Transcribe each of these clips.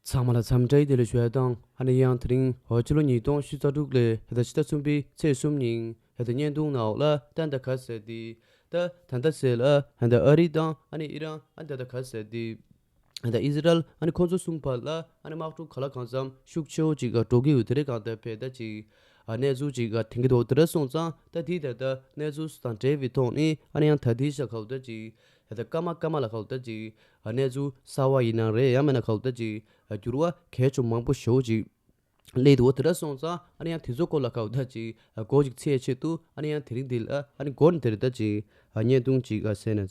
ཚང་མ་ལ་འཚམས་འདྲིའི་བདེ་ལེགས་ཞུ་ཡ་དང་ཨ་ནེ་ཡང་དེ་རིང་བ་ཕྱི་ལོ་ཉིས་སྟོང་བཞི་རྩ་དྲུག་ལོའི་ཕྱི་ཟླ་ཕྱི་ཟླ་གསུམ་པའི་ཚེས་གསུམ་ཉིན་ཨ་ཏི་བརྙན་ཐུང་ནག་འོག་ལ་ཏན་ཏཱ་ག་ཟེར་དེ་ད་ད་ད་ཟེར་ལ་ད་ཨ་རི་དང་ཨ་ནེ་ཨི་རན་ཨ་ད་ད་ག་ཟེར་དེ། ཨ་དང་ཨི་ཟི་རལ་ཨ་ནི་ཁོང་ཚོའི་སྲུང་བར་ལ་ཨ་ནི་དམག་གྲུ་ག་ལ་གང་འཚམ་ཤུགས་ཆེའོ་ཅིག་ག་འགྲོ་གི་འོད་དེ་རེ་གང་དུ་བས་ད་ཅིག་ཨ་གནས་ཚུལ་ཅིག་ག་དེང་གི་འོད་དེ་ར་སོང་ཙང་ད་དེའི་ད་ད་གནས་ཚུལ་སུ་དང་བྲལ་བའི་ཐོག་ནས་ཨ་ནི་ཡང་ད་དེའི་ཤ་ཁའུ་ད་ཅིག་ད་ད་སྐར་མ་སྐར་མ་ལ་ཁའུ་ད་ཅིག་ཨ་གནས་ཚུལ་གསར་བ་ཡིན་ན་རེ་ཡང་མེད་ན་ཁའུ་ད་ཅིག་ཨ་འགྱུར་བ་གས་ཆོ་མང་པོ་ཞོའོ་ཅིག་གླེ་དེ་འོད་དེ་ར་སོང་ཙང་ཨ་ནི་ཡང་དེ་ཚོ་སྐོར་ལ་ཁའུ་ད་ཅིག་ཨ་སྒོ་ཅིག་ཚེས་ཆེད་དུ་ཨ་ནི་ཡང་དེ་རིང་འདི་ལ་ཨ་ནི་སྒོར་ནི་དེ་རེ་ད་ཅིག་ཨ་བརྙན་ཐུང་ཅིག་ག་བསད་ན།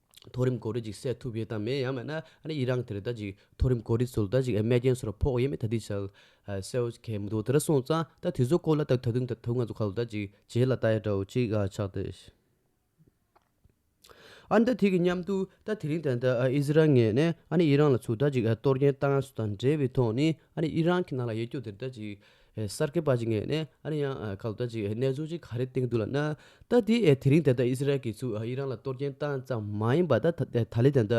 མཐོ་རིམ་གོ་རེ་ཅིག་བསད་ཐུབ་ཡོད་དམ་མེད་ཡང་མེད་ན་ཨ་ཡིད་རང་དེར་ད་ཅིག་མཐོ་རིམ་གོ་རེ་ཚོ་ད་ཅིག་རྨས་རྐྱེན་སོར་ཕོག་ཡོད་མེད་ད་ལྟིས་བྱལ་སེའོ་མཁན་མི་འདུག་དེ་ར་སོང་ཙང་ད་དེ་ཚོ་སྐོར་ལ་ད་ད་དུང་ད་དུང་ང་ཚོ་ཁ་ལོ་ད་ཅིག་བྱེད་ལ་ད་ཡ་འདྲ་བོ་ཅིག་ཆགས་ཏེ་ཨ་ད་དེ་གི་མཉམ་དུ་ད་དེ་རིང་ད་ད་ཨིས་རལ་ངས་ནས་ཨ་ཡིད་རང་ལ་ཚུར་ད་ཅིག་གཏོར་རྐྱེན་བཏང་ཡ་སུ་དང་འབྲེལ་བའི་ཐོག་ནས་ཨ་ཡིད་རང་གི་ནང་ལ་ཡེ་སྐྱོ་དེར་ད་ཅིག་གསར་སྐྱེས་པ་ཅིག་ངས་ནས་ཨ་རི་ཡང་ཁ་ལོ་ད་ཅིག་གནས་ཚུལ་ཅིག་ག་རེ་བཏིང་འདུག་ལ་ན། ད་དེ་དེ་རིང་དེ་ལྟར་ཨི་སི་རལ་གྱི་ཚུ་ཨི་རང་ལ་གཏོར་སྐྱེན་བཏང་ཙམ་མ་ཡིན་པ་ད་ད་ལི་དེ་ད་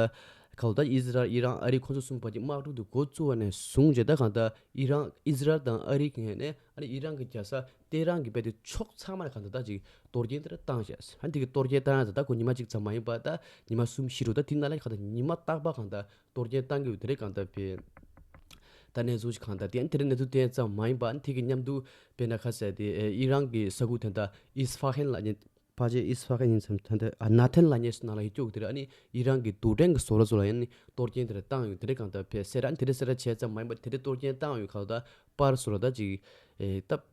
ཁ་ལོ་ད་ཨི་སི་རལ་ཨི་རང་ཨ་རི་ཁོ་ཚོ་གསུམ་བར་གྱི་དམག་འཁྲུག་འདི་འགོ་བཙུགས་བ་ནས་བཟུང་རྗེས་ད་གང་ད་ཨི་རང་ཨི་སི་རལ་དང་ཨ་རི་ངས་ནས་ཨ་རི་ཨི་རང་གི་རྒྱལ་ས་ཏེ་རང་གི་བལ་ཏེ་ཕྱོགས་ཚང་མར་གང་ད་ད་ཅིག་གཏོར་སྐྱེན་དེ་ར་བཏང་བྱས་སོ་ཧ་འདི་གི་གཏོར་སྐྱེན་བཏང་ཡང་ད་ད་གོ་ཉི་མ་ཅིག་ཙམ་མ་ཡིན་པ་ད་ཉི་མ་གསུམ་བཞི་རུ་ད་དེ་ན་ལ་གང་ད་ཉི་མ་རྟག་པ་གང་ད་གཏོར་སྐྱོན་གཏང་དགོས་དེ་རིགས་གང་ལྟར་སྤེལ། ད་ནས་བཟུང་གང་ལྟར་དེ་རིགས་གནས་ཚུལ་དེ་ཙམ་མ་ཡིན་པ་ཐིག་གི་མཉམ་དུ་སྤེལ་ན་ཁ་གསལ་ཏེ་ཨི་རན་གྱི་ས་ཁུལ་དེ་དག་ཨིས་ཧྥ་ཧན་ལ་ཉེ། ཕ་རྗེས་ཨིས་ཧྥ་ཧན་ཉིན་མཚམས་ཐ་དད་ཨ་ན་ཐན་ལ་ཉེ་སོ་ན་ལ་ཡི་སྐྱོགས་དེ་རིགས་ཨ་ནི་ཨི་རན་གྱི་དུར་ཕྲན་གྱི་བཟོ་ལ་བཟོ་ལ་ཡང་ནི་གཏོར་སྐྱོན་དེ་རིགས་གཏང་ཡོད་དེ་རིགས་གང་ལྟར་སྤེལ་སེ་ར་དེ་རིགས་སེ་ར་བྱས་ཙམ་མ་ཡིན་པ་དེ་རིགས་གཏོར་སྐྱོན་གཏང་ཡོད་ཁག་ད་པར་བཟོ་ལ་ད་ཅིག་སྟབས།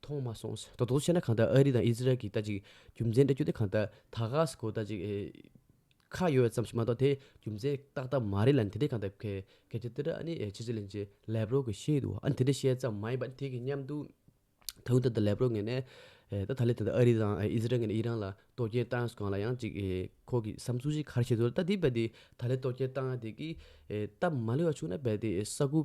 མཐོང་མ་སོང་ཟེར་དོགས་དོགས་ཆེ་ན་གང་ལྟར་ཨ་རི་དང་ཨི་ཟི་རལ་གྱི་ལྟ་ཅིག་རྒྱུ་མཚན་སྤྲད་རྒྱུ་དེ་གང་ལྟར་ད་ག་ཟེ་གོ་ལྟ་ཅིག་ཁ་ཡོད་ཙམ་ཞིག་མ་གཏོགས་དེ་རྒྱུ་མཚན་ཏག་ཏག་མ་རེད་ལ་དེ་འདྲས་གང་ལྟར་གལ་ཆེ་འདི་འདྲ་ཨ་ནི་ཕྱི་ཚུལ་ལན་ཅིག་ལེ་བྷ་རོ་གིས་བཤད་འདུག་ཨ་ནི་དེ་འདྲས་བཤད་ཙམ་མ་ཡིན་པར་དེ་གི་མཉམ་དུ་ད་དུང་ད་ལྟ་ལེ་བྷ་རོ་ངེས་ནས་ད་ད་ལི་ད་ལྟ་ཨ་རི་དང་ཨི་ཟི་རལ་ངེས་ནས་ཨི་རན་ལ་གཏོར་སྐྱོན་བཏང་སོང་ལ་ཡང་ཅིག་ཁོ་གི་བསམ་ཚུལ་ཅིག་ག་རེ་བྱེད་འདོད་ད་དེ་རྦད་དེ་ད་ལི་གཏོར་སྐྱོན་བཏང་ཡ་དེ་གིས་སྟབས་མ་ལེགས་བ་བྱུང་ན་རྦད་དེ་ས་ཁུལ་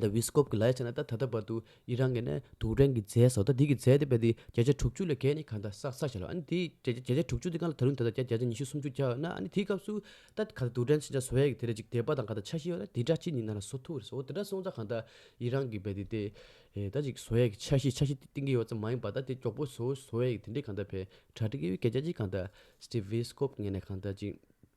ད་བྷིས་ཀོབ་ཀྱིས་ལ་ཡ་ཆ་ན་ད་ད་ལྟ་བར་དུ་ཨི་རན་གྱི་ནས་དུག་སྦྲེང་གི་རྫས་སོགས་ད་དེ་གི་རྫས་དེ་རྦད་དེ་བརྒྱ་ཆ་དྲུག་ཅུ་ལས་བརྒལ་ནས་ག་ད་ས་ས་བྱས་ལ་ཨ་ནི་དེ་བརྒྱ་བརྒྱ་ཆ་དྲུག་ཅུ་དེ་གང་ལ་ད་རུང་ད་ད་བརྒྱ་བརྒྱ་ཆ་ཉི་ཤུ་སུམ་ཅུ་བརྒྱ་ཡོད་ན་ཨ་ནི་དེའི་སྐབས་སུ་ད་ག་ད་དུག་སྦྲེང་ཕྱི་ཆ་བཟོ་ཡས་ཀྱི་དེ་རེ་ཅིག་འདེབས་པ་དང་ག་ད་ཆ་ཤི་ཡོད་ན་དེ་འདྲ་ཅི་ནི་ན་ན་བཟོ་ཐུག་རེ་ཟོ་དེ་འདྲ་སོང་ཙང་ག་ད་ཨི་རན་གྱི་རྦད་དེ་དེ་ད་ཅིག་བཟོ་ཡས་ཀྱི་ཆ་ཤི་ཆ་ཤི་དེ་གཏིང་གི་ཡོད་ཙམ་མ་ཡིན་པ་ད་དེ་མགྱོགས་པོ་བཟོ་བཟོ་ཡས་ཀྱི་དེ་འདྲའི་ག་ད་བས་གྲ་སྒྲིག་གི་ཡོད་བརྒྱ་བརྒྱ་ཅིག་ག་ད་སྟིབ་བྷིས་ཀོབ་ངས་ནས་ག་ད་ཅིག།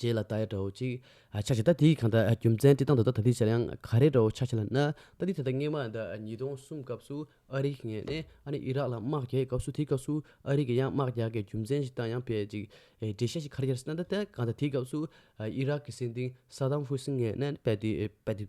རྗེས་ལ་ད་ཡ་འདྲ་བོ་ཅིག་ཆགས་ཤིང་ད་དེའི་གང་འདྲ་རྒྱུ་མཚན་དེ་དང་ད་ལྟ་ད་དེ་ཆར་ཡང་ག་རེ་འདྲ་བོ་ཆགས་ཤིང་ལ་ན་ད་དེ་ད་ལྟ་སྔས་མ་ད་ཉིས་སྟོང་གསུམ་སྐབས་སུ་ཨ་རིག་ངས་ནས་ཨ་ནི་ཨི་རག་ལ་དམག་རྒྱག་ཡས་སྐབས་སུ་དེའི་སྐབས་སུ་ཨ་རིག་གི་ཡང་དམག་རྒྱག་གི་རྒྱུ་མཚན་ཞིག་དང་ཡང་བེད་ཅིག་འགྲེལ་བཤད་ཞིག་ག་རེ་རྒྱག་སྲིད་ན་ད་ལྟ་གང་ད་དེའི་སྐབས་སུ་ཨི་རག་གི་སྲིད་འདིང་སཱ་དཱམ་ཧུ་སིན་ངས་ནས་བེད་དེ་བེད་དེ།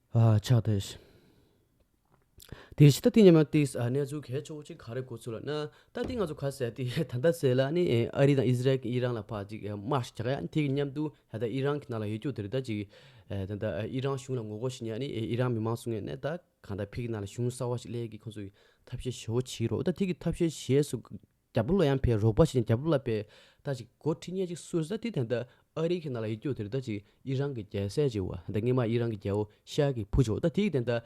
ཕྱག་དེ་བཞིན་དུ་ལྟ་སྟེ་སྙེ་མ་སྟེ་གནས་ཚུལ་གལ་ཆེ་བོ་གཅིག་ག་རེ་གོ་ཚུལ་ལ་ན་ད་ལྟའི་ང་ཚོ་ག་ཟེར་ཏེ་ད་ལྟ་ཟེར་ལ་ནི་ཨ་རི་དང་ཨི་ཟི་རལ་གྱི་ཨི་རང་ལ་ཕ་ཅིག་དམར་ཞིག་རྒྱག་ཡ་དེ་གི་མཉམ་དུ་ད་ལྟ་ཨི་རང་གི་ནང་ལ་ཡོད་རྒྱུ་དེ་རི་དྭགས་ཅིག་ད་ལྟ་ཨི་རང་གཞུང་ལ་ངོ་རྒོལ་བྱེད་ནས་ནི་ཨི་རང་མི་མང་སྲུང་ནས་ནས་ད་གང་ད་ཕིག་གི་ནང་ལ་གཞུང་གསར་བ་ཞིག་གླས་ཀྱི་ཁོང་ཚོ་ཐབས་ཤེས་བྱེད་བོ་བྱེད་རོགས་ད་དེ་གི་ཐབས་ཤེས་བྱེད་སུ་རྒྱ་བོད་ལ་ཡང་ཕའི་རོགས་པ་བྱས་ནས་རྒྱ་བོད་ལ་ཕའི་ད་ཅིག་སྒོར་ཁྲི་སྙེད་ཅིག་སོས་ཟ་དེ་དེ་འདྲ་ཨ་རིའི་གི་ནང་ལ་ཡིད་སྐྱོ་དེ་རི་ད་ཅིག་ཨི་རང་གི་རྒྱལ་སྲས་ཅིག་བ་དེ་སྔས་མ་ཨི་རང་གི་རྒྱལ་བོ་ཤ་གི་བུ་ཅིག་བ་ད་དེ་གི་དེ་འདྲ་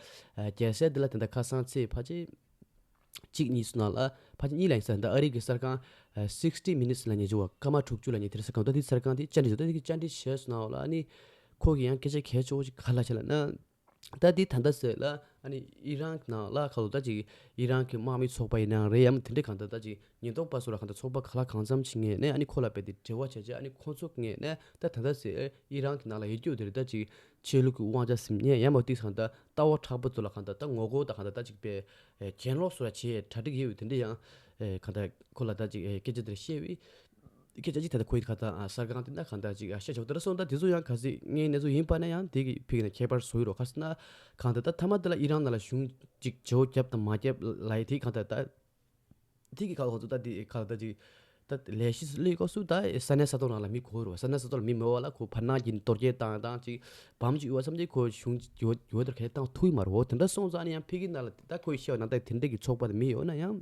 རྒྱལ་སྲས་དེ་ལ་དེ་འདྲ་ཁ་སང་ཚེས་ཕ་ཆེ་གཅིག་གཉིས་སུ་ནང་ལ་ཕ་ཆེ་གཉིས་ལ་ཡིན་ས་དེ་འདྲ་ཨ་རིའི་གི་གསར་ཁང sixty minutes ལ་ཉེ་ཆུང་བ་སྐར་མ་དྲུག་ཅུ་ལ་ཉེ་དེ་རི་གསར་ཁང་དེ་གསར་ཁང་དེ་བཅར་འདྲི་བྱས་ད་དེ་གི་བཅར་འདྲི་བྱས་སུ་ནང་ལ་ནི་ཁོ་གི་ཡང་སྐད་ཆ་གས་ཆོག་ཅིག་ག་ལ་བྱས་ལ་ན། ད་དེ་ད་ལྟ་ཟེར་ལ་ཨ་ནི་ཨི་རན་ནང་ལ་ཁ་ལོ་ད་ཅིག་ཨི་རན་གྱི་དམག་མི་ཚོགས་པ་ཡིན་ནའང་རེད་ཡམ་དེ་འདྲས་གང་ལྟར་ད་ཅིག་ཉེན་རྟོག་པ་སོགས་ལ་གང་ལྟར་ཚོགས་པ་ག་ལ་གང་འཚམས་བྱེད་ངེས་ནས་ཨ་ནི་ཁོ་ལ་རྦད་དེ་འབྲེལ་བ་བྱས་རྗེས་ཨ་ནི་ཁོ་ཚོ་ངེས་ནས་ད་ད་ད་ཟེར་ཨི་རན་གྱི་ནང་ལ་ཡེ་སྐྱོ་དེར་ད་ཅིག་ཆོས་ལུགས་ཀྱི་དབང་ཆ་ཟིམ་ཉེས་ཡམ་ཨོ་ཏི་གང་ལྟར་ལྟ་བ་ཕྲག་པ་ཚོ་ལ་གང་ལྟར་ད་ངོ་རྒོལ་དང་གང་ལྟར་ད་ཅིག་པའི་གྱེན་ལོག་སོགས་ལ་བྱས་གྲ་སྒྲིག་ཡོད་དེ་འདྲས་ཡང་གང་ལྟར་ཁོ་ལ་ད་ཅིག་སྐད་ཆ་དེ་འདྲ་བཤད་དབྱི་ཁྱེད་ཅག་གིས་ད་ལྟ་ཁོའི་ཁ་དང་ས་སྒང་དེ་ན་གང་དག་ཅིག་བཤད་ཆོག་དེ་འདྲ་སོང་ད་དེ་ཚོ་ཡང་ག་ཟིག་ངའི་ནེ་ཙོ་ཡིན་པ་ན་ཡང་དེ་གི་ཕིག་ན་ཁྱད་པར་བཟོ་ཡི་རོ་ཁ་སང་ན་གང་དག་ད་ཐ་མ་དེ་ལ་ཡི་རང་ན་ལ་ཞུང་ཅིག་བྱའོ་རྒྱབ་དང་མ་རྒྱབ་ལ་ཡི་དེ་གང་དག་ད་དེ་གི་ཁ་ལོ་ཚོ་ད་དེ་ཁ་ད་ཅིག་ད་ལས་གཞི་སུ་ལས་ཀོ་སུ་ད་ས་ནས་ས་ཐོག་ན་ལ་མི་གོ་ཡི་རོ་ས་ནས་ས་ཐོག་ལ་མི་མོ་བ་ལ་ཁོ་བར་ནག་གི་འདོར་རྒྱལ་དང་དང་ཅིག་བམ་ཅིག་ཡོད་བསམ་དེ་ཁོ་ཞུང་ཅིག་ཡོད་ཡོད་དོར་གལ་དང་ཐུག་ཡི་མ་རོ་དེ་འདྲ་སོང་ཙང་ཡང་ཕིག་གི་ན་ལ་དེ་ད་ཁོའི་ཤེས་བ་ན་ད་དེ་འདྲ་གི་ཚོགས་པ་དེ་མི་ཡོད་ན་ཡང།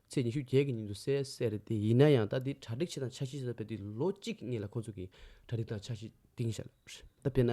ཚེས་ཉི་ཤུ་བརྒྱད་ཀྱི་ཉིན་དུ་གསལ་གསལ་དེ་ཡིན་ན་ཡང་ད་ལྟའི་གྲ་སྒྲིག་ཆེ་དང་ཆ་ཤས་ཟེར་བ་དེ་ལོ་གཅིག་གི་སྔས་ལ་ཁོང་ཚོ་གིས་གྲ་སྒྲིག་དང་ཆ་ཤས་གཏིང་ཞག་དཔེར་ན་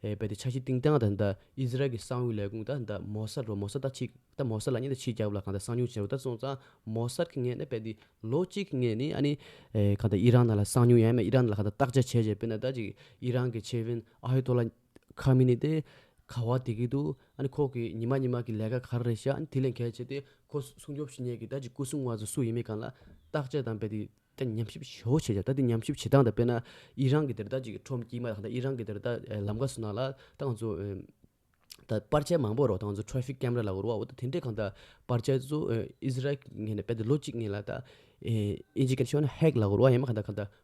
རྦད་དེ་ཆ་ཤས་གཏིང་སྟངས་དང་ད་ཨི་ཟི་རལ་གྱི་གསང་བའི་ལས་ཁུངས་ད་ད་མོ་སར་རོ་མོ་སར་ད་ཆིག་ད་མོ་སར་ལ་གཉིས་ད་ཆིག་རྒྱབ་ལ་གང་ད་གསང་ཉུང་བྱས་རོ་ད་སོང་ཙང་མོ་སར་གྱི་སྔས་ནི་རྦད་དེ་ལོ་གཅིག་གི་སྔས་ནི་ཨ་ནི་གང་ད་ཨི་རང་ན་ལ་གསང་ཉུང་ཡང་ཡང་མེད་ཨི་རང་ན་ལ་གང་ད་བརྟག་དཔྱད་བྱས་བྱས་དཔེར་ན་ད་ཅིག་ཨི་རང་གི་ཆེ་བྷིན་ཨ་ཧི་ཏོ་ལ། ཁ་མི་ནི་ཏེ། ཁ་བ་དེ་གིས་འདུག་ཨཱ་ཁོག་གིས་ཉི་མ་ཉི་མ་གི་ལས་ཀ་ག་རེ་རེད་ཤག་དེ་ལས་གལ་ཆེ་སྟེ། ཁོ་སྲུང་སྐྱོབ་བྱེད་མྱེད་ཀི་ད་ཅི་སྐུ་སྲུང་བ་ཚོ་སུ་ཡིན་མིན་གང་ལ་བརྟག་དཔྱད་དང་རྦད་དེ་ཉམས་ཞིབ་ཞེ་བོ་བྱེད་ཤག་ད་དེ་ཉམས་ཞིབ་བྱེད་སྟངས་དང་དཔེར་ན། ཨི་རང་གི་དེར་ད་ཅིག་ཁྲོམ་སྐྱིད་མ་ལགས་ད་ཨི་རང་གི་དེར་ད་ལམ་ཁ་སུ་ན་ལ་ད་ང་ཚོ། ད་པར་ཆས་མང་པོ་རོགས་ད་ང་ཚོ Traffic Camera ལ་རོགས་ཨོ་ད་དེ་འདྲས་གང་ད་པར་ཆས་ཚོ Israel གི་ངེས་ན་རྦད་དེ་ལོ་གཅིག་གཉིས་ལ་ད། ཨིན་ཇི་ག་ཤོ་ན Hack ལ་རོགས་ཡང་མ་གང་ད་གང་ད་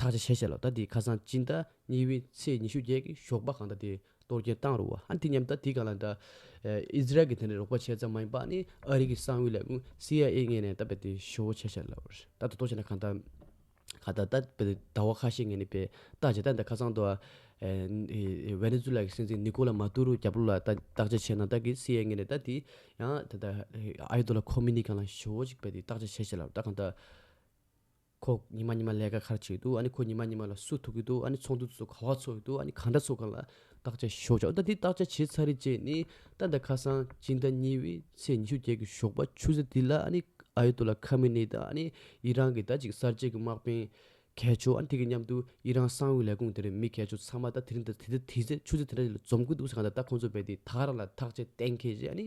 དག་ཆ་ཤས་ཆེ་ལ་ད་དེའི་ཁ་སང་སྤྱི་ཟླ་གཉིས་པའི་ཚེས་ཉི་ཤུ་བརྒྱད་གི་ཞོགས་པ་གང་ལྟར་དེ་གཏོར་སྐྱོན་བཏང་རུང་བ་ཨ་འཐི་སྙམ་ད་དེ་གང་ལ་འདྲ། ཨི་ཟི་རལ་གྱི་དེ་ནས་རོགས་པ་བྱས་ཙང་མ་ཡིན་པ་ནི་ཨ་རི་གི་གསང་བའི་ལས་ཁུངས་སི་ཨའི་ཨེ་ངེས་ནས་ད་བལ་དེ་ཤོ་བོ་ཆེ་ཆེ་ལབ་རེད་ད་ད་དོ་བྱས་ན་གང་ལྟར། ཁ་ད་ད་བལ་ཟླ་བ་ཁ་ཤས་ངེས་ནས་བལ་ལྟ་བྱས་ད་འདི་ཁ་སང་དུ་ཨ་བེ་ནེ་ཛུ་ལཱ་གི་སྲིད་འཛིན་ནི་ཀོ་ལཱ་མཱ་ཏུ་རོ་རྒྱ་བོ་ལ་ད་བརྟག་དཔྱད་བྱས་ན་ད་གི་སི་ཨའི་ངེས་ནས་ད་དེ་ཡང་ད་ད་ཨ་ཡེ་དོ་ལཱ་ཁོ་མི་ནི་གང་ལ་ཤོ་བོ་ཅིག་བལ་དེ་བརྟག་དཔྱད་བྱས་ཤེས་ལབ་ད་གང་ལྟར། ཁོ་ཉི་མ་ཉི་མ་ལས་ཀ་གར་བྱེད་དུ་ཨ་ནི་ཁོ་ཉི་མ་ཉི་མ་ལ་སུ་ཐུག་གི་འདུག་ཨ་ནི་ཚོགས་འདུ་ཚོ་ག་བ་ཚོགས་ཡི་འདུག་ཨ་ནི་ག་འདྲ་ཚོགས་གང་ལ་བརྟག་དཔྱད་ཞོག་ཆ་ད་འདི་བརྟག་དཔྱད་བྱེད་ཚར་རེད་ཅེས་ནི་རྟ་ཟླ་ཁ་སང་སྤྱི་ཟླ་གཉིས་བའི་ཚེས་ཉི་ཤུ་བརྒྱད་གི་ཞོགས་པ་ཆུ་ཚོད་དེ་ལ་ཨ་ནི་ཨ་ཡོད་དོ་ལ་ཁ་མི་ནི་དང་ཨ་ནི་ཡི་རང་གི་ད་ཅིག་གསར་བརྗེ་གི་དམག་དཔོན་གས་མཆོག་ཨ་ནི་དེ་གི་མཉམ་དུ་ཡི་རང་གསང་བའི་ལས་ཁུངས་དེར་མི་གས་མཆོག་ཚང་མ་ད་དེ་རིང་དེ་ཚེ་ཆུ་ཚོད་དེ་འདྲ་ཞིག་ལ་འཛོམས་ཀི་འདུག་ཟེར་གང་ད་ད་ཁོང་ཚོ་བས་དེ་དག་རང་ལ་ཐག་བཅད་གཏན་འཁེལ་བྱས་ཨ་ནི།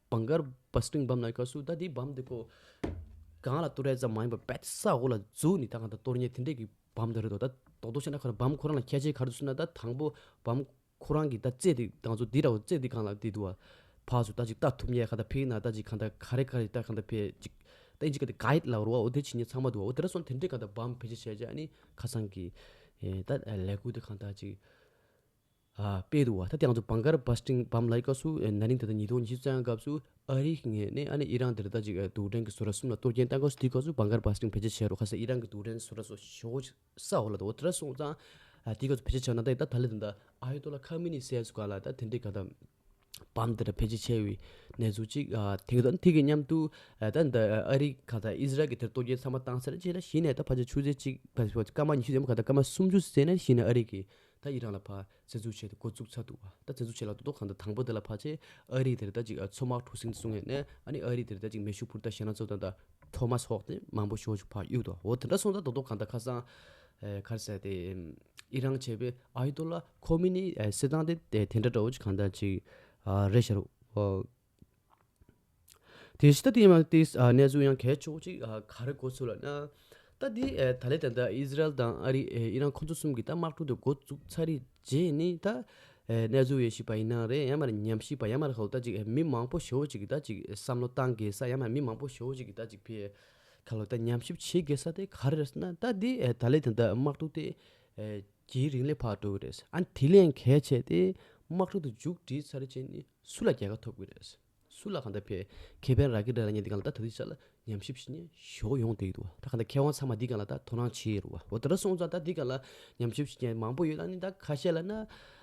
བང་དཀར་བ་སྟོིང་བམ་ལ་ཁ་སུ་ད་དེའི་བམ་དེ་ཁོ། གང་ལ་ལྟོ་རས་ཙམ་མ་ཡིན་པར་བད་ས་འོག་ལ་འཛུགས་ནས་ད་གང་ད་ལྟོ་རྙེད་དེ་འདྲས་ཀྱི་བམ་དེ་རེད་དོ་ད་དོག་དོག་བྱས་ན་ཁོ་རང་བམ་ཁོ་རང་ལ་ཁྱད་ཆེ་གར་དུ་སུ་ན་ད་དང་པོ་བམ་ཁོ་རང་གིས་ད་བཙས་དེ་གང་ཚོ་དེ་ར་བ་བཙས་དེ་གང་ལ་དེ་དུ་བ་བགས་སུ་ད་ཅིག་ལྟ་ཐུབ་ཉེ་ག་ད་ཕིག་ན་ད་ཅིག་གང་ད་ག་རེ་ག་རེ་ད་གང་ད་བེད་ཅིག་ད་ཨིན་ཅིག་ག་དེ་ག་ཡིད་ལ་རོ་བ་འོ་དེ་ཕྱི་ཉིན་ཚང་མ་དུ་བ་འོ་དེ་ར་སོང་དེ་འདྲས་གང་ད་བམ་བེད་སྤྱད་བྱས་ཅིག་ཨ་ནི་ཁ་སང་གི། ད་ལས་ཁུ་དེ་གང་ད་ཅིག། དཔལ་དུ་བ་ད་དེང་སུ་བང་གར་བ་སྤྲིང་བམ་ལ་ཡི་ག་སུ་ན་རིང་ད་ད་ཉིས་སྟོང་ཉི་ཤུ་རྩ་ཡང་སྐབས་སུ་ཨ་རི་ངས་ནས་ཨ་ནི་ཨི་རང་དེ་རི་ད་ཅིག་དུག་སྦྲེང་གི་སུ་ར་གསུམ་ལ་གཏོར་སྐྱེན་བཏང་སྐབས་སུ་དེའི་སྐབས་སུ་བང་གར་བ་སྤྲིང་བེད་སྤྱད་བྱས་རོགས་ཁ་སེ་ཨི་རང་གི་དུག་སྦྲེང་སུ་ར་སོ་ཞོ་ས་འོག་ལ་ད་འོ་ད་ར་སོང་ཙང་དེའི་སྐབས་སུ་བེད་སྤྱད་བྱས་ན་ད་ད་ད་ལི་ད་ད་ཨ་ཡོད་ཏོ་ལ་ཁ་མི་ནི་སེ་སུ་ག་ལ་ད་དེ་འདྲས་ག་ད། བམ་འདི་འདྲ་ཕལ་ཆེར་ཆེ་བའི་གནས་ཚུལ་གཅིག་དེ་དང་དེ་གི་མཉམ་དུ་ད་ལྟ་ཨ་རི་ག་ད་ཨིས་རལ་གྱི་དེར་གཏོར་རྒྱལ་ཚང་མ་བཏང་ཟེར་ཅེས་ན་གཞི་ནས་ད་ཕར་ཆེར་ཆུ་ཚོད་གཅིག་ཕར་ཕར་སྐར་མ་ཉི་ཤུ་ཡོད་མ་ག་ད་སྐར་མ་སུམ་ཅུ་ཟེར་ན་གཞི་ནས་ཨ་རི་གིས་ད་ཨི་རན་ལ་ཕར་བཙན་འཛུལ་བྱས་ཏེ་འགོ་བཙུགས་ཚར་འདུག་བ་ད་བཙན་འཛུལ་བྱས་ལ་དོ་དོ་གང་ད་དང་པོ་དེ་ལ་ཕར་ཆེར་ཨ་རིས་དེར་ད་ཅིག་མཚོ་དམག་འཕྲོ་སྲིང་གསུང་ངས་ནས་ཨ་ནི་ཨ་རིས་དེར་ད་ཅིག་མེ་ཤུགས་འཕུར་ད་ཞེ་ན་ཚོ་དང་ད་འཕྲོ་མ་སོགས་ཏེ་མང་པོ་ཤོར་ཅིག་ཕར་གཡུགས་འདུག་བ་འོ་དེ་འདྲ་སོང་ད་དོ་དོ་གང་ད་ཁ་སང་ཨེ་ཁར་ཟེར་ཏེ་ཨི་རང་བྱས་པའི་ཨ་ཡི་ཏོ་ལ་ཁོ་མི་ནི་སྲིད་ཏང་དེ་དེ་འདྲ་འདྲ་བོ་ཅིག་གང་འདྲ་ཅིག་རེད་ཤག་རོགས། དེ་ཤི་ད་དེ་ཡིན་མ་དེ་གནས་ཚུལ་ཡང་གལ་ཆེ་བོ་ཅིག་ག་རེ་གོ་ཚོད་ལ་ན། ད་དེ་ད་ལེ་ད་ལྟ་ཨི་ཟི་རལ་དང་ཨ་རི་ཨི་རང་ཁོ་ཚོ་གསུམ་གྱི་ད་དམག་གྲུ་དེ་འགོ་བཙུགས་ཚར་རེད་རྗེས་ནི་ད་གནས་ཚུལ་ཡེ་ཤེས་པ་ཡིན་ན་རེད་ཡང་མར་ཉམས་ཞིབ་པ་ཡང་མར་ཧོ་ད་ཅིག་མི་མང་པོ་ཞོ་བོ་ཅིག་གི་ད་ཅིག་བསམ་བློ་བཏང་དགོས་ས་ཡང་མར་མི་མང་པོ་ཞོ་བོ་ཅིག་གི་ད་ཅིག་ཕེ། ཁ་ལོ་ད་ཉམས་ཞིབ་བྱེད་དགོས་ས་དེ་ག་རེ་རེད་ཟེར་ན་ད་དེ་ད་ལེ་དེ་འདྲ་དམག་འཁྲུག་དེ་གྱི་རིང་ལས་བར་འགྲོ་གི་རེད་ཨ་དེ་ལས་གལ་ཆེ་དེ་དམག་འཁྲུག་དེ་མཇུག་བསྒྲིལ་ཚར་རྗེས་ནི་སུ་ལ་རྒྱལ་ཁ་ཐོབ་གི་རེད་སུ་ལ་གང་འདྲ་བས་ཁེ་ཕན་རག་གི་རེད་ལ་ཉན་དེ་གང་ལ་ད་ད་དེ་ཆ་ལ་ཉམས་ཞིབ་བྱེད་ནས་ཞོག་ཡོང་དེ་ཡོད་དོ་ད་གང་འདྲ་ཁེ་དབང་ཚང་མ་དེ་གང་ལ་ད་དོ་སྣང་བྱེད་ཡོད་རོ་བ་འོ་དེ་འདྲ་སོང་ཙང་ད་དེ་གང་ལ་ཉམས་ཞིབ་བྱེད་མཁན་མང་པོ་ཡོད་ད་ནི་ད་ཁ་ཤས་ལ་ན།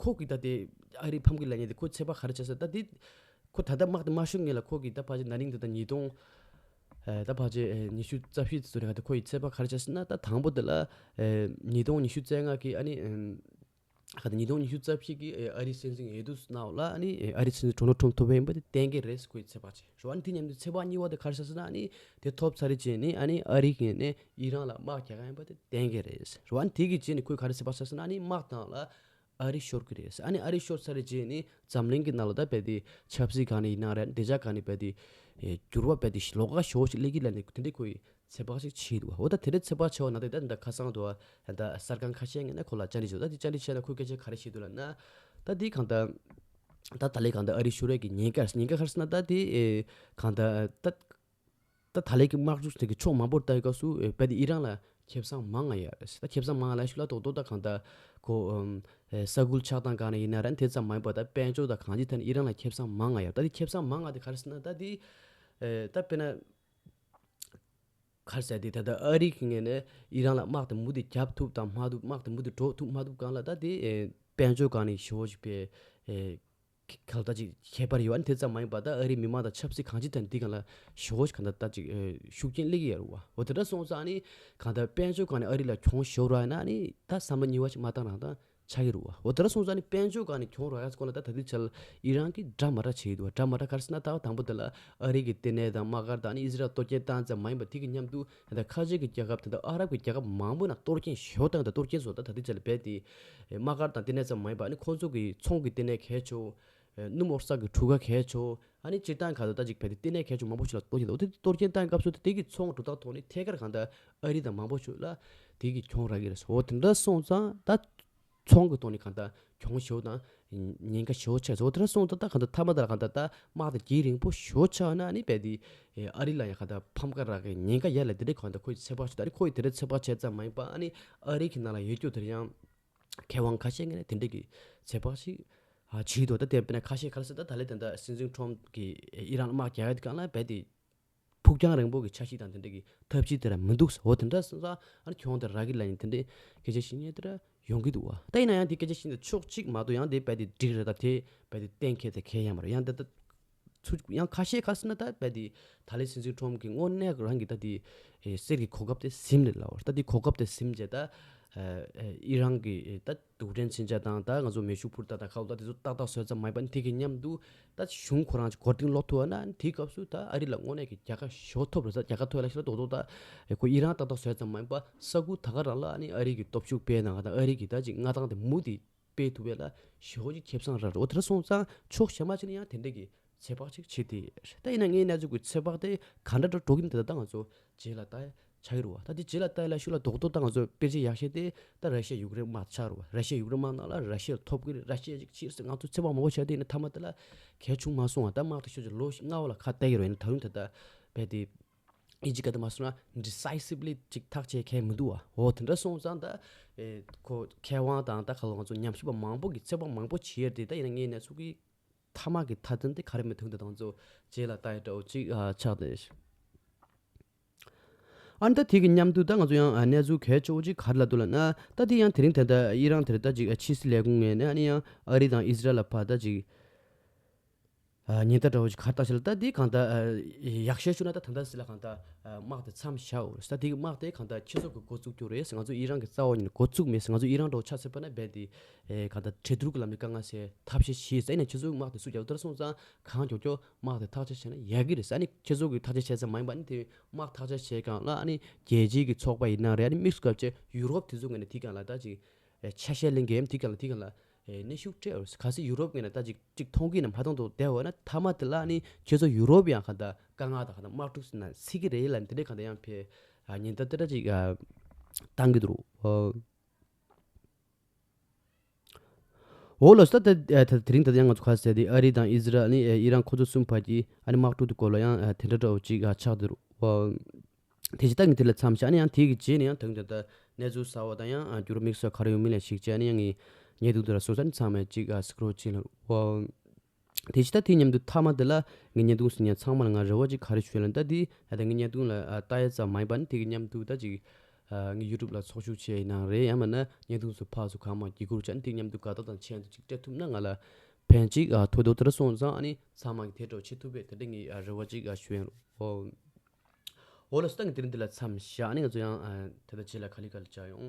ཁོ་གིས་ད་ལྟ་ཨ་རིའི་ཕམ་ཁའི་ལས་གཉེར་དེ་ཁོ་ཚད་པ་ག་རེ་བྱས་སོང་ད་ལྟའི། ཁོ་ད་ལྟ་དམག་དེ་དམར་ཤོག་ངོས་ལ་ཁོ་གིས་ད་བར་ཆད་ན་རིང་དུ་ད་ཉིས་སྟོང། ད་བར་ཆད་ཉི་ཤུ་རྩ་བཞི་ཚུན་ལ་ད་ཁོ་ཡི་ཚད་པ་ག་རེ་བྱས་སོང་ན་ད་དང་པོ་དེ་ལ། ཉིས་སྟོང་ཉི་ཤུ་རྩ་ལྔ་གི་ཨ་ནི། ད་ཉིས་སྟོང་ཉི་ཤུ་རྩ་བཞི་གི་ཨ་རིའི་སྲིད་འཛིན་ཡེ་དུ་སི་ནའོ་ལ་ཨ་ནི་ཨ་རིའི་སྲིད་འཛིན་ཏྲོ་ནོ་ཐྲོམ་ཐོབ་ཡིན་པ་དེ་གཏན་འཁེལ་རེད་ཁོ་ཡི་ཚད་པ་བྱས་ཞོ་ཨ་ནི་དེ་མཉམ་དུ་ཚད་པ་གཉིས་པ་དེ་ག་རེ་བྱས་སོང་ན་ཨ་ནི་དེ་ཐོབ་ཚར་རེ་བྱས་ནས་ཨ་ནི་ཨ་རིའི་ངོས་ནས་ཡིད་རང་ལ་དམག་རྒྱག་གིན་པ་དེ་གཏན་འཁེལ་རེད་ཟེར་བ་དེ་གི་རྗེས་ནས་ཁོས་ག་རེ་ཟེར་བ་ཟེར་ས་ན་ནི་དམག་བཏང་ལ་ཨ་རི་ཤོར་གི་རེད་ཟེར་ཨ་ནི་ཨ་རི་ཤོར་ཚར་རེ་རྗེས་ནི་འཛམ་གླིང་གི་ནང་ལ་ད་བལ་དེ་ཆབ་སྲིད་གང་ནས་ཡིན་ན་རེད་བདེ་འཇགས་གང་ནས་བལ་དེ་འགྱུར་བ་བལ་དེ་ལོག་ཀ་ཞོ་ཞིག་སླེབས་ཀྱི་ལ་ནི་དེ་འདྲའི་ཁོ་ཡི་ཚེ་དཔག་ཅིག་བྱས་འདུག་འོ་ད་དེ་འདྲའི་ཚེ་དཔག་བྱས་བ་ན་དེ་ད་དེ་འདྲ་ཁ་སང་དུ་ཨ་ད་གསར་ཁང་ཁ་ཤས་ངས་ན་ཁོ་ལ་བཅར་འདྲི་བྱས་འདུག་ད་དེ་བཅར་འདྲི་བྱས་ན་ཁོས་སྐད་ཆ་ག་རེ་བཤད་འདུག་ལ་ན། ད་དེ་གང་ད། ད་ད་ལའི་གང་ད་ཨ་རི་ཤོར་ཡས་ཀྱི་ཉེན་ཀ་རེད་ཟེར་ཉེན་ཀ་ག་རེ་ཟེར་ན་ད་དེ། གང་ད། ད། ད་ད་ལེ་གི་དམག་འཁྲུག་ཐེག་གི་ཕྱོགས་མང་པོར་ལྟ་བའི་སྐབས་སུ་ཨེ་བལ་དེ་ཨི་རང་ལ་ཁེབ་བཟང་མང་ང་ཡ་རེད་ད་ཁེབ་བཟང་མང་ང་ལ་ཤུ་ལ་ཏོག་ཏོག་ད་གང་ད་གོ་ས་ཁུལ་ཆགས་སྟངས་གང་ན་ཡིན་ན་རན་དེ་ཙམ་མ་ཡིན་པ་ད་དཔལ་འབྱོར་ད་གང་ཅི་ཐད་ནས་ཨི་རང་ལ་ཁེབ་བཟང་མང་ང་ཡ་རེད་ད་དེ་ཁེབ་བཟང་མང་ང་དེ་ག་རེ་ཟེར་ན་ད་དེ་ད་དཔེར་ན་ག་རེ་ཟེར་དེ་ད་ད་ཨ་རིག་གི་ངེས་ནས་ཨི་རང་ལ་དམག་དེ་མུ་དེ་རྒྱབ་ཐུབ་དང་མ་ཐུབ་དམག་དེ་མུ་དེ་འགྲོ་ཐུབ་མ་ཐུབ་གང་ལ་ད་དེ་དཔལ་འབྱོར་གང་ནས་ཤེ་བོ་ཞིག་པའི། ག་ལྟ་ཅིག་ཁྱད་པར་ཡོད་ཨ་ནི་དེ་ཙམ་མ་ཡིན་པར་ད་ཨ་རིའི་མི་མང་དང་ཆབ་སྲིད་གང་ཅི་དང་འདི་གང་ལ་ཞུ་ཧོ་གང་ལྟ་ལྟ་ཅིག་ཤུགས་རྐྱེན་སླེ་གི་ཡ་རུ་བ་འོ་དེ་འདྲ་སོང་ཙང་ཨ་ནི་གང་ལྟ་དཔལ་འབྱོར་གང་ནས་ཨ་རི་ལ་གྱོང་ཞོ་ར་ཡ་ན་ཨ་ནི་ད་བསམ་བློ་གཉིས་བ་ཞིག་མ་བཏང་རང་བཏང་ཆགས་ཡ་རུ་བ་འོ་དེ་འདྲ་སོང་ཙང་ཨ་ནི་དཔལ་འབྱོར་གང་ནས་གྱོང་ར་ཡ་ས་ཁོ་ན་ད་ད་དུས་ཆལ་ཨི་རང་གི་དགྲ་མ་དགྲ་བྱེད་ཡི་དུ་བ་དགྲ་མ་དགྲ་ག་རེ་ཟེར་ན་ད་བ་དང་པོ་དེ་ལ་ཨ་རི་གི་ལྟེ་གནས་དང་དམག་སྒར་དང་ཨ་ནི་ཨི་ཟི་རལ་ལ་གཏོར་སྐྱེན་བཏང་ཙམ་མ་ཡིན་པར་དེ་གི་མཉམ་དུ་ད་ལྟ་ཁ་ཆེ་གི་རྒྱལ་ཁབ་དང་ཨ་རབ་ཀྱི་རྒྱལ་ཁབ་མང་པོ་ནང་གཏོར་སྐྱེན་ཞོ་བཏང་སྟེ་གཏོར་སྐྱེན་བཟོ་ད་ད་ལྟའི་ཆ་ལ་རྦད་དེ། དམག་སྒར་དང་ལྟེ་གནས་ཙམ་མ་ཡིན་པ་ཨ་ནི་ཁོང་ཚོ་གི་ཚོང་གི་ལྟེ་གནས་གས་ཆོ། སྣུམ་འོག་ས་གི་གྲུ་ཁ་གས་ཆོ། ཨ་ནི་སྤྱིར་བཏང་ག་ད་ལྟ་ཅིག་རྦད་དེ་ལྟེ་གནས་གས་ཆོ་མང་པོ་ཞིག་ལ་གཏོར་སྐྱེན་བཏང་འོ་དེ་གཏོར་སྐྱེན་བཏང་སྐབས་སུ་དེ་གི་ཚོང་གྲུ་དག་ཐོག་ནི་ཐད་ཀར་གང་ལྟར་ཨ་རི་དང་མང་པོ་ཞུ་ལ། དེ་གི་གྱོང་རག་གི་རེད། འོ་དེ་འདྲ་སོང་ཙང་ད། ཚོང་གི་ཐོག་ནས་གང་དག་གྱོང་ཞོ་དང། ཉེན་ཁ་ཞོ་ཆགས་ཟོག་དེ་འདྲ་སོང་ད་ད་གང་དག་ཐ་མ་དག་ལ་གང་དག་ད་དམག་དང་གྱེས་རིང་པོ་ཞོ་ཆགས་ན་ནི་རྦད་དེ། ཨ་རི་ལ་ཡང་གང་དག་ཕམ་ཁ་རག་གི་ཉེན་ཁ་ཡལ་ལ་དེ་འདྲའི་གང་དག་ཁོ་ཡི་ཚེ་བག་ཆོད་ད་རེས་ཁོ་ཡི་དེ་འདྲའི་ཚེ་བག་ཆད་ཙམ་མ་ཡིན་པ་ཨ་ནི་ཨ་རི་གི་ནང་ལ་ཡོད་རྒྱུ་དེར་ཡང། མཁས་དབང་ཁ་ཤས་ངན་ལས་དེ་འདྲས་ཀྱི་ཚེ་བག་ཞིག། བྱིས་འདུག་ད་དེ་བས་ན་ཁ་ཤས་ག་ལ་སྲིད་ད་ད་ལས་དེ་འདྲ་སྲིད་འཛིན་ཁྲོམ་གི་ཨི་རན་དམག་རྒྱག་ཡ་དེ་གང་ལ་རྦད་དེ། ཕུགས་རྒྱང་རིང་པོ་གི་ཆ་ཞིག་དང་དེ་འདྲ་གི་ཐབས་ཅིག་དེ་ར་མི་འདུག་ཟེར་འོ་དེ་འདྲ་ས་ཨ་གྱོང་དེ་ར་གི་ལ་ཡིན་དེ་འདྲའི་སྐད་ཆ་ཞིག་ངས་དེ་ར་ཡོང་གི་འདུག་བ་ད་ཡིན་ན་ཡང་དེ་སྐད་ཆ་ཞིག་འདི་ཕྱོགས་གཅིག་མ་གཏོགས་ཡང་དེ་རྦད་དེ་འགྲིག་རེད་ད་དེ་རྦད་དེ་གཏན་འཁེལ་ཚད་མཁས་ཡ་མ་རེད་ཡང་དེ་ད་ཚུ་ཡང་ཁ་ཤས་ཁ་སིན་ན་ད་རྦད་དེ་ད་ལེ་སིན་སིན་ཁྲོམ་གི་དངོས་གནས་རང་གི་ད་དེ་གསེར་གི་གོ་སྐབས་དེ་ཟིན་རེད་ལ་ད་དེ་གོ་སྐབས་དེ་ཟིན་རྗེས་ད་ཨི་རང་གི་ད། སྡུག་དྲན་ཕྱིན་ཆད་དང་ད་ང་ཚོ་མེ་ཤུགས་འཕུར་རྟ་དང་ཁ་ལོ་ད་དེ་ཚོ་ཏག་ཏག་བཟོས་ཙམ་མ་ཡིན་པ་འཐད་གི་སྙམ་འདུག་ད་གཞུང་ཁོ་རང་ཅག་གོ་དིང་ལོག་ཐུ་བ་ན་དེའི་སྐབས་སུ་ད་ཨ་རི་ལ་དངོས་གནས་ཀྱི་རྒྱལ་ཁ་ཞོ་ཐོབ་རེད་ས་རྒྱལ་ཁ་ཐོས་ལ་ཤི་ལ་དོག་དོག་ད་ཁོ་ཨི་རང་ཏག་ཏག་བཟོས་ཙམ་མ་ཡིན་པ་ས་ཁུལ་ད་ག་རང་ལ་ཨ་ནི་ཨ་རི་གི་སྟོབས་ཤུགས་སྤེལ་གནང་ག་ད་ཨ་རི་གི་ད་ཅིག་མངའ་ཐང་དེ་མུ་དེ་སྤེལ་ཐུབ་པས་ལ་ཞོ་ཅིག་ཁྱེབས་སང་ར་རོ་དེ་ར་སོང་ཙང་ཆོག་བྱས་མ་བྱས་ན་ཡང་དེ་འདྲས་ཀྱི་ཚོད་དཔག་ཅིག་བྱེད་དེ། ད་ཡིན་ན་ངའི་ན་ཟུག་གི་ཚོད་དཔག་དེ་ག་འདྲ་འགྲོ་འགྲོ་གིན་དེ་དག་ད་ང་ཚོ་རྗེས་ལ་ལྟ་ཆ་ཡོད་རུང་བ་ད་དེ་རྗེས་ལ་ལྟ་ཡ་ལ་ཤུགས་ལ་དོགས་དོགས་ད་ང་ཚོ་དཔེ་ཆའི་ཡག་ཤས་དེ་ད་ར་ཤེ་ཡུག་རེན་དམག་ཆགས་རུང་བ་ར་ཤེ་ཡུག་རེན་དམག་ནང་ལ་ར་ཤེ་ལ་ཐོབ་གི་རེད་ར་ཤེ་ཅིག་བྱེད་སེ་ང་ཚོ་ཚོད་དཔག་མང་པོ་བྱ་དེ་ཡིན་ན་ཐ་མ་དེ་ལ་གལ་ཆུང་མ་སོང་བ་ད་དམག་དེ་ཤོད་ཅིག་ལོ་བཞི་ལྔ་བ་ལ་ཁ་གཏད་ཀྱི་རེད་ན་ད་རུང་དེ་དག་རྦད་དེ་ཨི་ཇི་ཀ་དེ་མ་སོང་ན Decisively ཅིག་ཐག་བཅད་མཁན་མི་འདུག་བ་འོ་དེ་འདྲ་སོང་ཙང་ད་ཁོ་མཁས་དབང་དང་ད་ག་ལ་ང་ཚོ་ཉམས་ཞིབ་པ་མང་པོ་གི་ཚོད་དཔག་མང་པོ་བྱས་ཏེ་ད་ཡིན་ན་ངའི་ན་ཟུག་གི། ཐ་མ་གི་ཐ་དད་དེ་ག་རེ་མི་ཐུག་འདི་དང་རྫོགས། རྗེས་ལ་ལྟ་ཡི་དྲྭ་བ་གཅིག་ཆགས་ཏེ། ཨ་ནི་ད་ཐེངས་ཀྱི་མཉམ་འདུག་ད་ང་ཚོ་ཡང་གནས་ཚུལ་གལ་ཆེ་བོ་གཅིག་ག་རེ་ལ་འདུག་ལ་ན་ད་དེ་ཡང་དེ་རིང་དེ་ལྟ་ཡི་རང་དེར་ད་ཅིག་ཕྱི་སྲིད་ལས་ཁུངས་ངས་ནས་ཨ་ནི་ཡང་ཨ་རི་དང་ཨི་ཟི་རལ་ལ་ཕར་ད་ཅིག་ཉིན་ད་དྲྭ་བ་གཅིག་ག་རེ་བཏང་ཤེས་ལ་ད་དེ་གང་ད་ཡག་ཤེས་བྱུང་ན་ད་ད་ད་སྲིད་ལ་གང་ད་དམག་དེ་མཚམས་བཞག་འོས་ད་དེ་གི་དམག་དེ་གང་ད་ཁྱེད་ཚོ་གི་འགོ་བཙུགས་རྒྱུ་རེད་ཟེར་ང་ཚོ་ཡི་རང་གི་རྩ་བ་ཉིད་ལ་འགོ་བཙུགས་མེད་ཟེར་ང་ཚོ་ཡི་རང་དྲྭ་བ་ཆགས་ཚེ་པ་ན་རྦད་དེ་ཨེ། གང་ལྟར་གྲོས་བསྡུར་གྱི་ལམ་ནས་དཀའ་ངལ་སེལ་ཐབས་ཤེས་ཞེས་ཟེར་ནས་ཁྱེད་ཚོའི་དམག་དེ་སུས་རྒྱབ་ལྟར་སོང་ཙང་གང་འགྱོག་འགྱོག་དམག་དེ་ཐག་གཅད་བྱས་ན་ཡག་གི་རེད་ས་ནི་ཁྱེད་ཚོ་གི་ཐག་གཅད་བྱས་ཙམ་མ་ཡིན་པ་ནི་དེ་དམག་ཐག་གཅད་བྱས་གང་ལ་ཨ་ནི་རྒྱལ་སྤྱིའི་གི་ཚོགས་པ་ཡིན་ན་རེད་ཨ་ནི་དམིགས་སུ་བཀར་བྱས་ཡུ་རོབ་དེ་ཚོ་ངན་ན་དེ་གང་ལ་ལྟ་ཅིག་ཆ་ཤས་གླེང་གི་ཨེམ་དེ་གང་ལ་དེ་གང་ལ་ཨེ་གནས་ཤུགས་སྤྲད་འོས་གལ་སྲིད་ཡུ་རོབ་ངན་ན་ལྟ་ཅིག་ཅིག་མཐོང་གི་ན་མ་མཐོང་དུ་བསྡད་འོས་ན་མཐའ་མ་དེ་ལ་ཨ་ནི་ཁྱེད་ཚོ་ཡུ་རོབ་ཡང་གང་ལྟར་དཀའ་ངལ་དང་གང་ལྟར་དམག་འཁྲུག་ཟིན་ན་སྲིད་ཀྱི་རེད་ལ་ཨ་ནི་དེ་འདྲས་གང་ལྟར་ཡང་ཕེབས་ཉིན་ལྟར་དེ་འདྲ་ཅིག་བཏང་གི་འདུག། འོ་ལོ་སི་ཐ་ད་དེ་རིང་ད་ལྟ་ཡང་ང་ཚོ་ཁ་གསལ་ཏེ་ཨ་རི་དང་ཨི་ཟི་རལ་ནི་ཨི་རན་ཁོ་ཚོ་གསུམ་བར་གྱི་ཨ་རི་དམག་འཁྲུག་དེ་སྐོར་ལ་ཡང་དེ་འདྲ་འདྲ་བོ་ཅིག་ཆགས་འདུག་དེ་བྱས་ཏང་གི་དེ་ལ་མཚམས་བཞག་ནས་ཡང་དེའི་རྗེས་ནས་ཡང་ད་དུང་དེ་ལྟར་གནས་ཚུལ་གསར་བ་དང་ཡང་འགྱུར་བ་དམིགས་བསལ་ག་རེ་ཡོང་མིན་ལ་གཞིགས་བྱས་ནས་ཡང་ངེས་འདུག་དེ་ལ་སོང་ས་ནི་ཚང་མས་ཅིག་གསལ་ཁ་རོགས་གྱིས་ལ། དེ་ཅི་ད་དེ་སྙམ་དུ་མཐའ་མ་དེ་ལ་ངའི་བརྙན་ཐུང་ཟིན་ཡང་ཚང་མར་ང་རེ་བ་ཅིག་ག་རེ་བྱོས་ལན་ད་དེ་ད་ངའི་བརྙན་ཐུང་ལ་ལྟ་ཡ་ཙམ་མ་ཡིན་པ་ནི་དེ་གི་མཉམ་དུ་ད་ཅིག་ངའི youtube ལ་ཚོགས་ཞུགས་བྱས་ཡིན་ནའང་རེད་ཡང་མིན་ན་བརྙན་ཐུང་སུ་ཕག་སུ་གང་མང་བགྱི་དགོས་ཀྱང་དེ་མཉམ་དུ་དགའ་སྟོབས་དང་ཆེན་དུ་ཅིག་སྤྲད་ཐུབ་ན་ང་ལ་ཕན་ཅིག་ཐོགས་འདུག་དེ་འདྲ་སོང་ཙང་ནི་ཚང་མ་གི་དེ་གྲོགས་བྱེད་ཐུབ་པས་ད་དེ་ངའི་རེ་བ་ཅིག་བྱོས་ཡིན་འོ་ལོ་སི་ཏང་གི་དེ་རིང་འདི་ལ་མཚམས་བཞག་ནི་ང་ཚོ་ཡང་ད་ལྟ་བྱེད་ལ་ཁ་ལི་ཁ་ལི་བྱ་ཡོང།